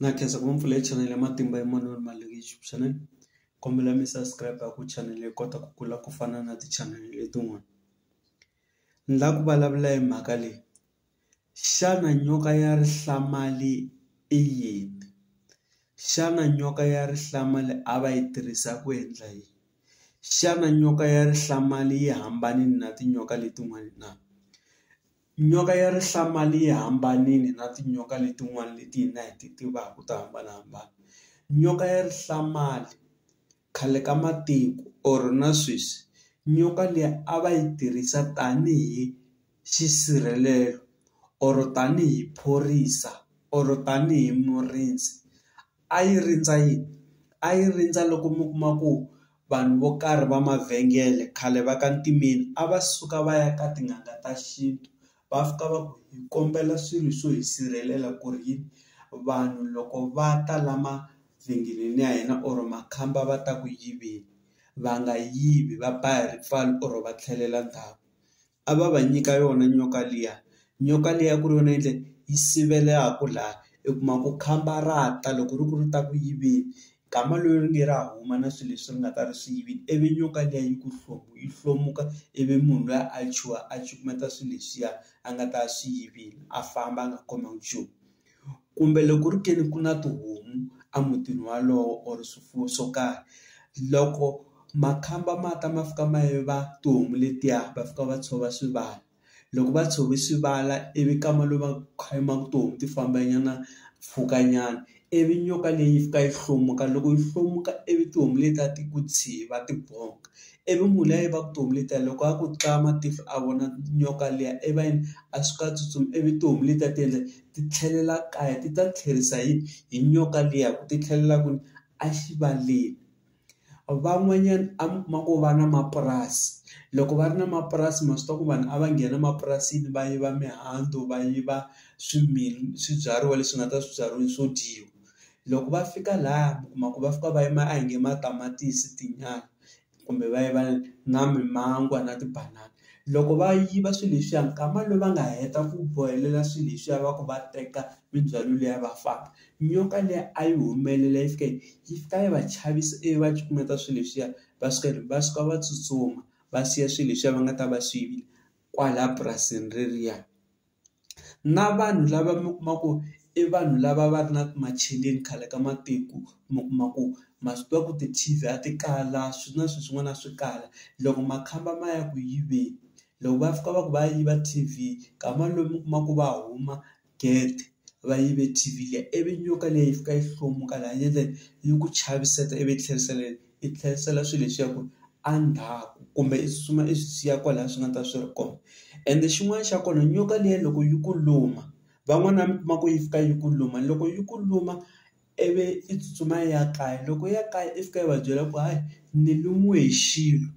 Na khensa ku va ni pfule chanel ya matimba ya moya wa mali leyi xana kombela mi subscribe ku chanele yi kota ku kula ku fana na ti-channel letin'wana ni la ku vulavula hi mhaka leyi xana nyoka ya rihlamali i yini xana nyoka ya rihlamali a va yi tirhisa ku endla yini xana nyoka ya rihlamali yi hambane na tinyoka letin'wani na. Nyoka ya rihlampfana yi hambanile na tinyoka letin'wana leti hina hi ti tivaka to hambanahambana. Nyoka ya rihlampfana khale ka matiko or na sweswi nyoka liya a va yi tirhisa tanihi xisirhelelo or tanihi phorisa or tanihi murindzi. a yi rindza yini? A yi rindza loko mi kuma ku vanhu vo karhi va mavhengele khale va ka ntimeni a va suka va ya ka tin'anga ta xintu va fika va ku hi kombela swilo swo hi sirhelela ku ri yini vanhu loko va ta la mavhengeleni ya hina or makhamba va ta ku yiveni va nga yivi va ba hi ripfalo or va tlhelela ndzhaku a va va nyika yona nyoka liya nyoka liya ku ri yona yindlu yi sivelaku laha i kuma ku khamba ra ta loko ri ku ri ta ku yiveni nkama lowu ri nge ra huma na swilo leswi ri nga ta ri swi yivini ivi nyoka liya yi ku yi hlomuka ivi munhu luya a chuha a cukumeta swilo leswiya a nga ta swi yivini a famba a nga khomiwi nchumu. kumbe loko ku ri ke ni ku na tihomu a mutini walowo or swifuwo swo karhi loko makhamba ma ta ma fika ma yiva tihomu letiya va fika va tshova swi va loko va tshove swi vala ivi kama lomu va kha ma ku tihomu ti famba nyana mpfhuka nyana ivi nyoka leyi fika yi hlomuka loko yi hlomuka ivi tihomu leti a ti ku tshvi va ti bonka I vi munhu luya i va ku tihomu letiya loko a ku tla matihlo a vona nyoka liya i va yini a suka a tsutsuma i vi tihomu letiya ti endla ti tlhelela kaya ti ta tlherisa hi hi nyoka liya ku ti tlhelela kwini a xivaleni van'wanyana a mi kuma ku va na mapurasi loko va ri na mapurasi ma swi tiva ku vanhu a va nghena emapurasini va yiva mihandzu va yiva swibyariwa leswi nga ta swibyariwa swo dyiwa loko va fika laya mi kuma ku va fika va yima a hi nge matamatisi tinyala kumbe va yiva na mimangwa na tibanana loko va yiva swilo leswiya nkama lowu va nga heta ku bohelela swilo leswiya va ku va teka mindzhwalo liya va famba nyoka liya a yi humelela yi fika yi fika yi va chavisa ivi va cukumeta swilo leswiya va suka va suka va tsutsuma va siya swilo leswiya va nga ta va swi yivile kwala purasini reriya. na vanhu lava mi kuma ku i vanhu lava va ri na macheleni khale ka matiko mi kuma ku ma swi tiva ku ti-T_V a ti kala swi na swilo swin'wana a swi kala loko makhamba ma ya ku yiveni loko va fika va ku va ya yiva T_V nkarhi walowo mi kuma ku va huma gede va yive T_V liya ivi nyoka leyi yi fika yi hlomuka laha yi ku chaviseta ivi yi tlherisela . i tlherisela swilo leswiya ku a ndzhaku kumbe i tsutsuma i swi siya kwalaya swi nga ta swi ri kona ende xin'wana xa kona nyoka liya loko yi ku luma van'wana mi kuma ku yi fika yi ku luma loko yi ku luma i vi i tsutsuma i ya kaya loko ya kaya i fika i va byela ku hayi ni lumiwe hi xilo.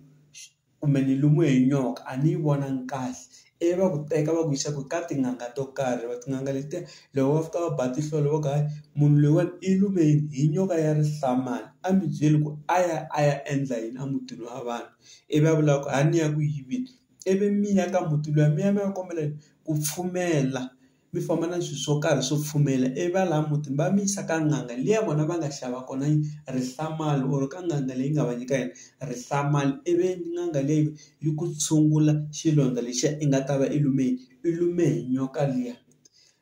kumbe ni lumiwe hi nyoka a ni yi vonangi kahle ivi va ku teka va ku yisa ku ka tin'anga to karhi va tin'anga letiya loko va fika va ba tinhlolo va ku hayi munhu loyiwani i lume hi hi nyoka ya rihlampfana a mi byeli ku a ya a ya endla yini a mutini wa vanhu ivi a vula ku a ni ya ku yiveni ivi mi ya ka muti luya mi ya mi ya kombela ku pfumela mi famba na swilo swo karhi swo pfumela ivi va laha mutini va mi yisa ka n'anga liya vona va nga xava kona rihlamani or ka n'anga leyi nga va nyika yona rihlamani ivi n'anga leyi yi ku tshungula xilondza lexiya i nga ta va i lume hi i lume hi nyoka liya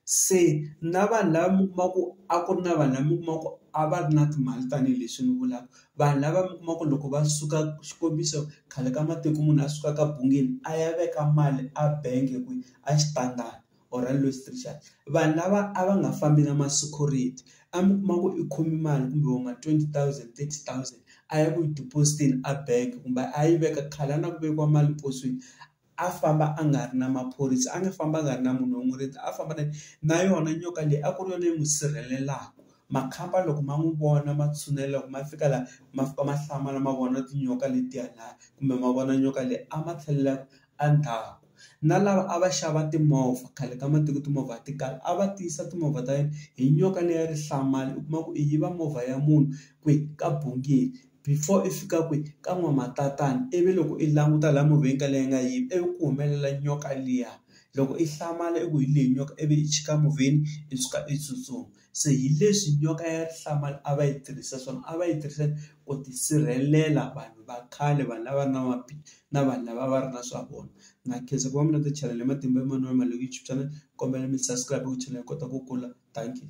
se na vanhu lava mi kuma ku a ku ri na vanhu lava mi kuma ku a va ri na timali tanihileswi ni vulaka vanhu lava mi kuma ku loko va suka xikombiso khale ka matiko munhu a suka ka bungeni a ya veka mali a bangi kwihi a xitandani. or a loose teacher vanhu lava a va nga fambi na ma security a mi kuma ku i khome mali kumbe vo ma twenty thousand, thirty thousand a ya ku yi deposit-eni a bank kumbe a yi veka khale a na ku vekiwa mali posweni a famba a nga ri na maphorisa a nga famba a nga ri na munhu wo n'wi rindza a famba na na yona nyoka leyi a ku ri yona yi n'wi sirhelelaka makhamba loko ma n'wi vona ma tshinela loko ma fika laha ma fika ma hlamala ma vona tinyoka letiya laha kumbe ma vona nyoka leyi a ma tlhelela. Endzhaku na lava a va xava timovha khale ka matiko timovha ti kala a va tiyisa timovha ta yena hi nyoka leya rihlaza u kuma ku i yiva movha ya munhu kwi ka bungili before i fika kwi ka n'wamatatani ivi loko i languta laha movheni ka leyi nga yiva ivi ku humelela nyoka liya loko i hlamala i ku hi leyi nyoka ivi i chika movheni i suka i tsutsuma. se hi leswi nyoka ya rihlamba a va yi tirhisa swona a va yi tirhisa ku tisirhelela vanhu va khale vanhu lava na na vanhu lava a va ri na swa vona na khensa ku va mi na ti channel Matimba Emmanuel Malekichi channel kombela mi subscribe ku channel hi kota ku kula thank you.